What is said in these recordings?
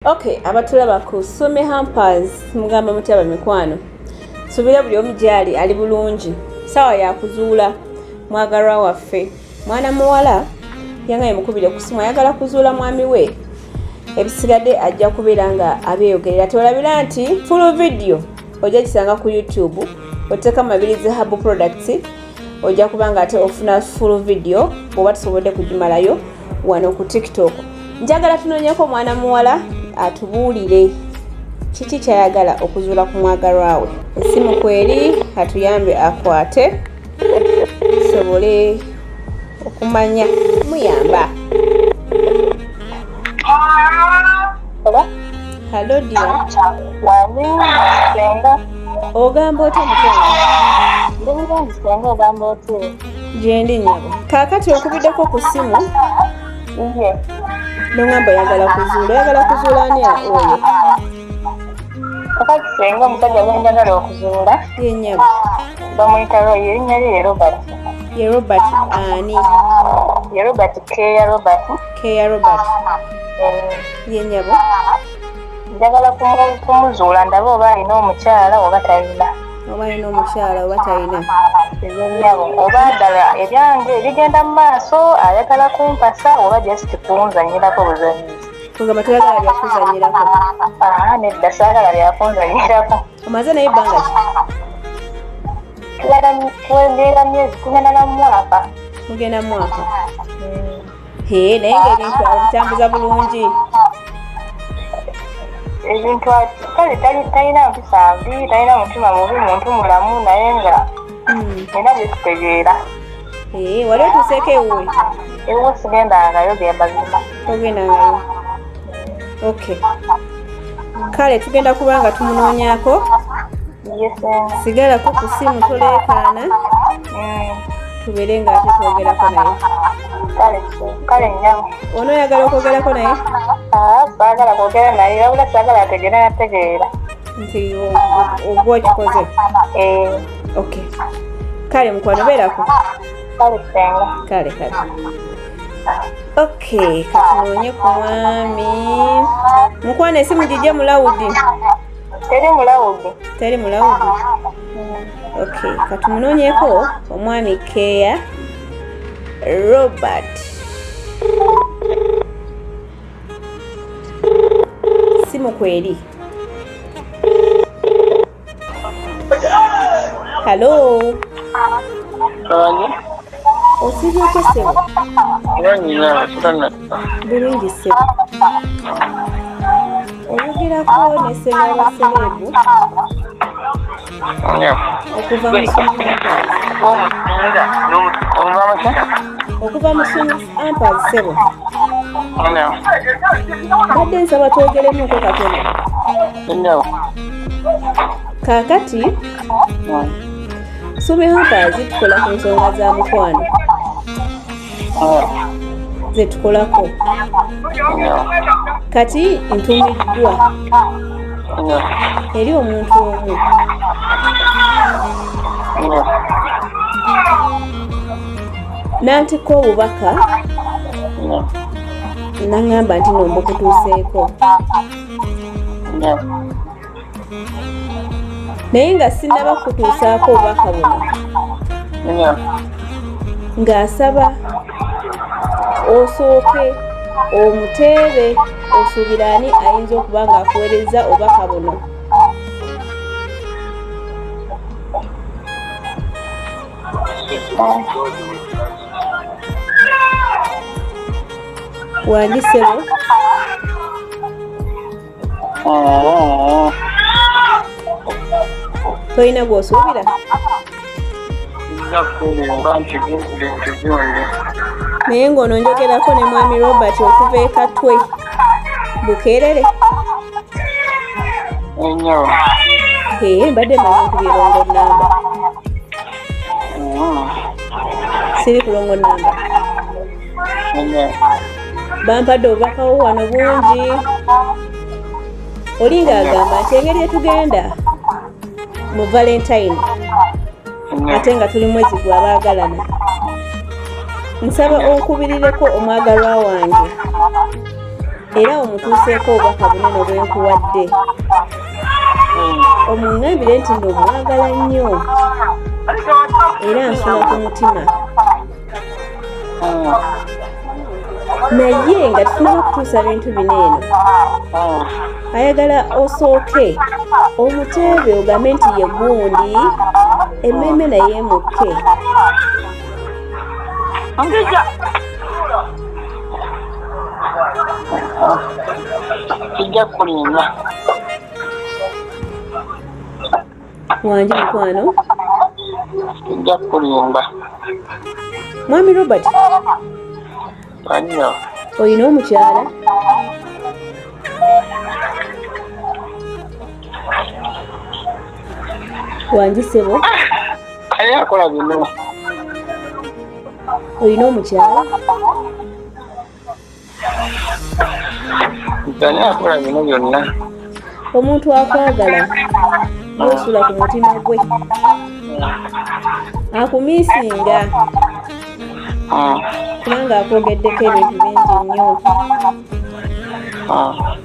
Okay, abatulaba ku Sumi Hampers mugamba mutya bamikwano? Subira buli omu gyali ali bulungi. Sawa ya kuzuula mwagalwa waffe. Mwana muwala yangaye mukubire okusimu ayagala kuzuula mwami we ebisigadde ajja kubeera nga abyeyogerera tolabira nti full video ojja kisanga ku youtube oteeka mabirizi hub products ojja kuba nga ate ofuna full video bwoba tusobodde kugimalayo wano ku tiktok njagala tunoonyeko omwana muwala atubuulire kiki kyayagala okuzuula ku mwagalwawe esimu kweri atuyambe akwate tusobole okumanya muyamba Hello, dear. ogamba otya mukyala gyendi nyabo kaakati okubiddeko ku ssimu nongamba oyagala kuzuula oyagala kuzuula ani oyo kakati senga omusajja gwendagala okuzuula yenyabo bamuyita royo erinnya lye ye robert ye robert ani ye robert keya robert keya robert eh. yenyabo njagala kumuzuula ndabe oba alina omukyala oba talina oba alina omukyala oba talina ebyonyabo oba ddala ebyange ebigenda mu maaso ayagala kumpasa oba just kunzanyirako buzanyizi kugamba toyagala byakuzanyirako nedda saagala byakunzanyirako omaze naye ebbanga ki tugenda myezi tugenda na mwaka tugenda mwaka hee naye nga ebintu abitambuza bulungi ebintu kale talina mpisa mbi talina mutima mubi muntu mulamu naye nga hmm. era byekitegeera eh, wali otuuseeko ewuwe ewu sigendangayo gembazima togendangayo ok kale tugenda kuba nga tumunoonyako sigalako ku simu toleekaana mm. tubeere nga ate twogerako naye kale nyabo ono oyagala okwogerako naye ah, saagala kwogera naye wabula saagala ategeera nategeera nti ogwa okikoze eh. ok kale mukwano beerako kale senga kale kale ok katunoonye ku mwami mukwano esimu gijje mulawudi teri mulawudi teri mulawudi ok katumunonyeko omwami keya robert simu kweri halo Osibye otya ssebo? Nanyina atana. Bulungi ssebo. Oyogerako ne ssebo wa sereebu? Okuva mu okuva mu ampazi ssebo. Mbadde nsaba twogeremuko katono. Kaakati. Sumi Hackers tukola ku nsonga za mukwano zetukolako kati ntumiddwa eri omuntu omu nantikko obubaka naŋŋamba nti nombukutuuseeko naye nga sinnaba kutuusaako obubaka buno ng'asaba osooke omuteebe osuubira ani ayinza okuba ng'akuweereza obubaka buno wandisebo tolina gwosuubira naye ng'ono njogerako ne mwami robert okuva ekatwe bukeerere ee mbadde manyi nkubyelongo namba siri kulongo namba bampadde obubakawo wano bungi oli ng'agamba nti engeri etugenda mu valentine ate nga tuli mwezi gwa baagalana nsaba onkubirireko omwagalwa wange era omutuuseeko obubaka bunene obwenkuwadde omuŋambire nti nno omwagala nnyo era nsula ku mutima naye nga tufunaba okutuusa bintu bino eno ayagala osooke omuteebe ogambe nti ye gundi emmeeme naye emukke kijja kulinda wangi mukwano nja kulimba mwami robert anyo olina omukyala wangi sebo aye akola bino olina omukyala ani akola bino byonna omuntu akwagala osula ku mutima gwe akumisinga ah. kubanga akwogeddeko ebintu bingi nnyo ah.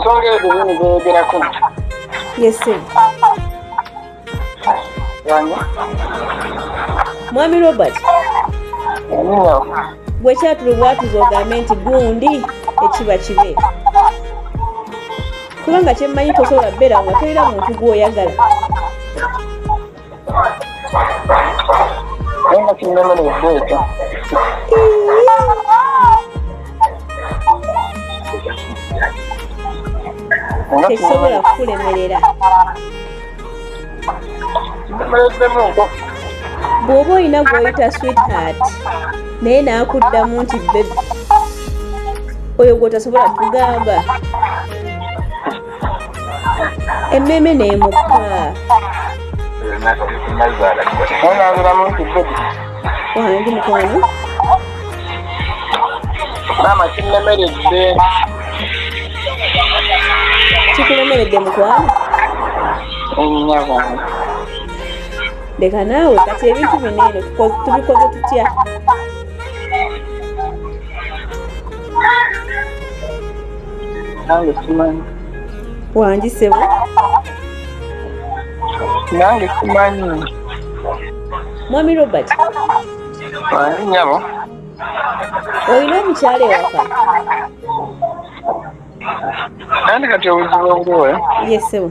nsonga ezo nyini zeyogerako yese mwami robert bwekyatulu bwatuza ogambe nti gundi ekiba kibe kubanga kyemmanyi tosobola kubeera nga tolina muntu gwoyagala Nenda kinoma na ibeta. Tekisobola kukulemerera. Bw'oba olina gw'oyita sweetheart naye n'akuddamu nti bebi oyo gw'otasobola kugamba emmeeme n'emukka onabiramu nti bedi wangi mukwano maama kinnemeredde kikulemeredde mukwano ennyabo leka naawe kati ebintu bino eno tubikoze tutya nange simanyi wangi sebo nange simanyi mwami robert nyabo olina omukyala ewaka andi kati obuzibu obuliwe yesebo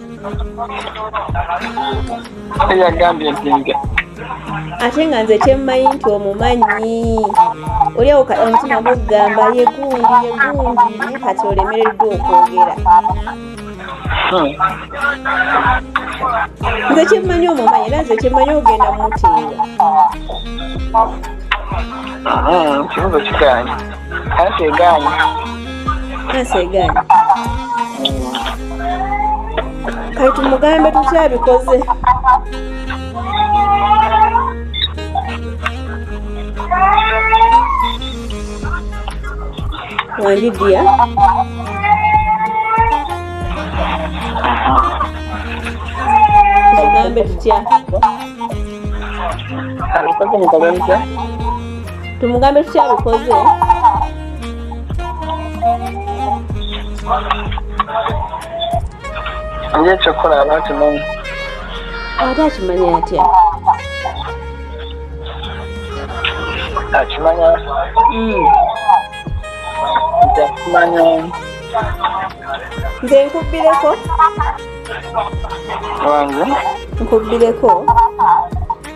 yagambye nti nga ate nga nze kyemmanyi nti omumanyi oli awo omutima gugamba yegundi yegundi naye kati olemereddwa okwogera hmm. nze kyemmanyi omumanyi era nze kyemmanyi ogenda mumuteera ah, kibuzo kiganye Kansi egaanyi. Kansi egaanyi. Kati tumugambe tutya bikoze. Wandidia. Tumugambe tutya. Abikoze mukole mutya? tumugambe tutya bikoze ye kyokola aba akimanyi ate akimanyi atya akimanya hmm. nti akimanya nze nkubbireko wange nkubbireko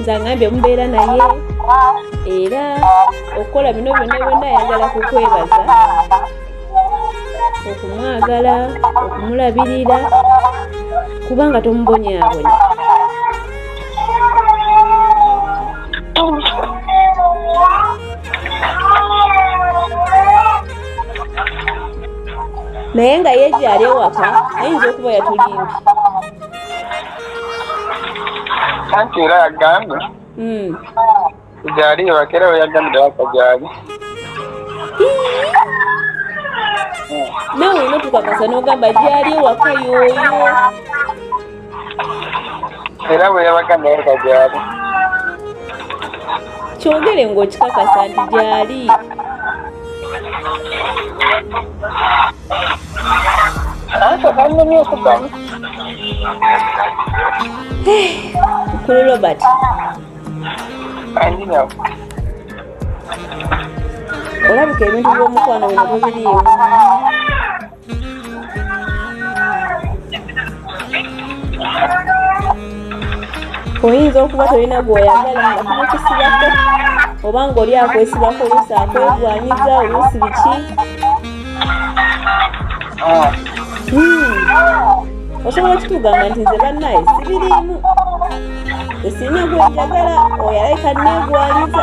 nze angambye omubeera naye era okukola bino byonna byonna ayagala kukwebaza okumwagala okumulabirira kubanga tomubonyabonya naye nga ye gyali ewaka ayinza okuba yatulimbi anti era yagambye hmm. gyali ewaka era weyagambira waka gyali nawe olina tukakasa nogamba gyali ewaka yoyo era bwe yabaga naye nga gyali kyogere ng'okikakasa nti gyali mukulu eh, robert olabika ebintu by'omukwano bino bibiriimu oyinza okuba tolina gwoyagala nga kumukisibako oba nga oli akwesibako oluusi akwegwanyiza oluusi biki ah. hmm. osobola okitugamba nti nze bannaye sibiriimu esiina gwenjagala oyo alayika neegwaliza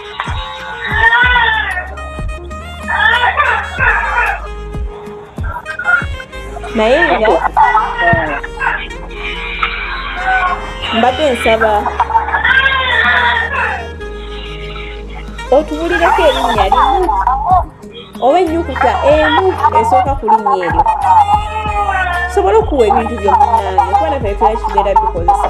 naye nga mbadde nsaba otubulireko erinnya limu oba ennyukuta emu esooka ku linnya eryo sobola okuwa ebintu byomunange kuba nafe tuyakibeera bikozesa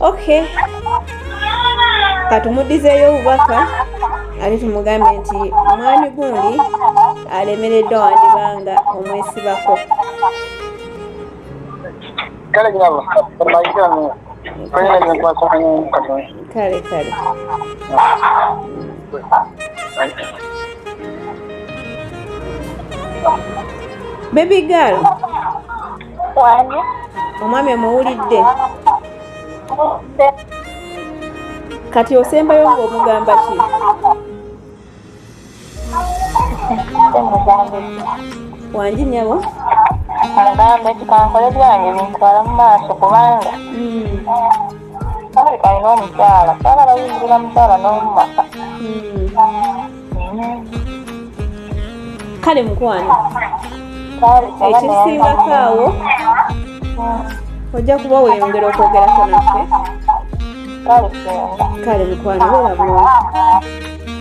Okay, katumudizeeyo obubaka ate tumugambe nti omwami gundi alemereddwa wandibanga omwesibako kale nyabo mayigano kwenye ni kwa kwa ni katoni kale kale baby girl omwami omuwulidde kati osembayo ng'omugamba ki wangi nyabo mugamba nti kankole byange bintwala mu maaso kubanga alina omukyala saala bayingirira mukyala n'omumaka kale mukwano ekisingako awo ojja kuba weyongera okwogerako naffe kale mukwano bera bulungi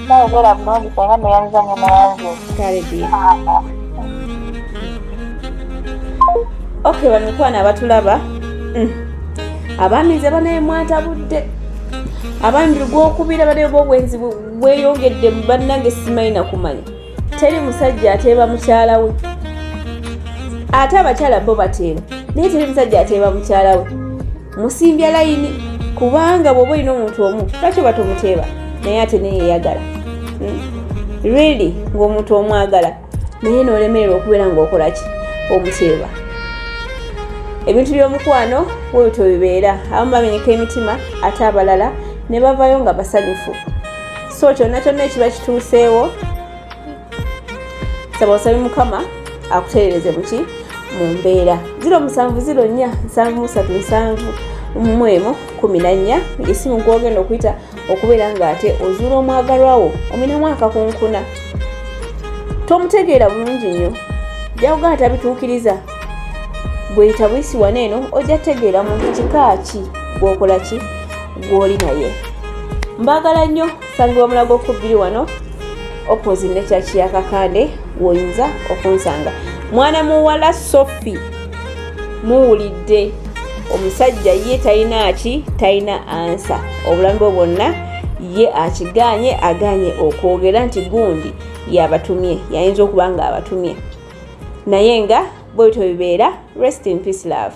nawe bera bulungi senga neyanza nyuma yange kale dia ok bamikwano abatulaba mm. abamize banaye mwatabudde abandi gwokubira banaye bobwenzi weyongedde mu bannange simanyi nakumanya teri musajja ateeba mukyala we ate abakyala bo bateeba naye teri musajja ateeba mukyala we musimbya layini kubanga bwoba olina omuntu omu lwaki oba tomuteeba naye ate neyeyagala hmm? really ngaomuntu omwagala naye nolemererwa okubeera ngaokolaki omuteeba ebintu byomukwano webityo bibeera abamu bamenyeka emitima ate abalala ne bavayo nga basanyufu so kyonna kyonna ekiba kituuseewo saba osabe mukama akutereereze muki mu mbeera ziro musanvu ziro nnya nsanvu musatu nsanvu mwemu kumi na nnya esimu gwogenda okuyita okubeera ng'ate ozuula omwagalwa wo ominamu akakunkuna tomutegeera bulungi nnyo jakugaa tabituukiriza gweyita buyisi wana eno ojja tegeera muntu kika ki gwokola ki gwoli naye mbaagala nnyo sangibwa mulago okubbiri wano opposite ne kyaki yakakande woyinza okunsanga mwana muwala sophie muwulidde omusajja ye talina ki talina ansa obulamu bwe bwonna ye akiganye aganye okwogera nti gundi yabatumye yayinza okuba nga abatumye naye nga bwebityo bibeera rest in peace love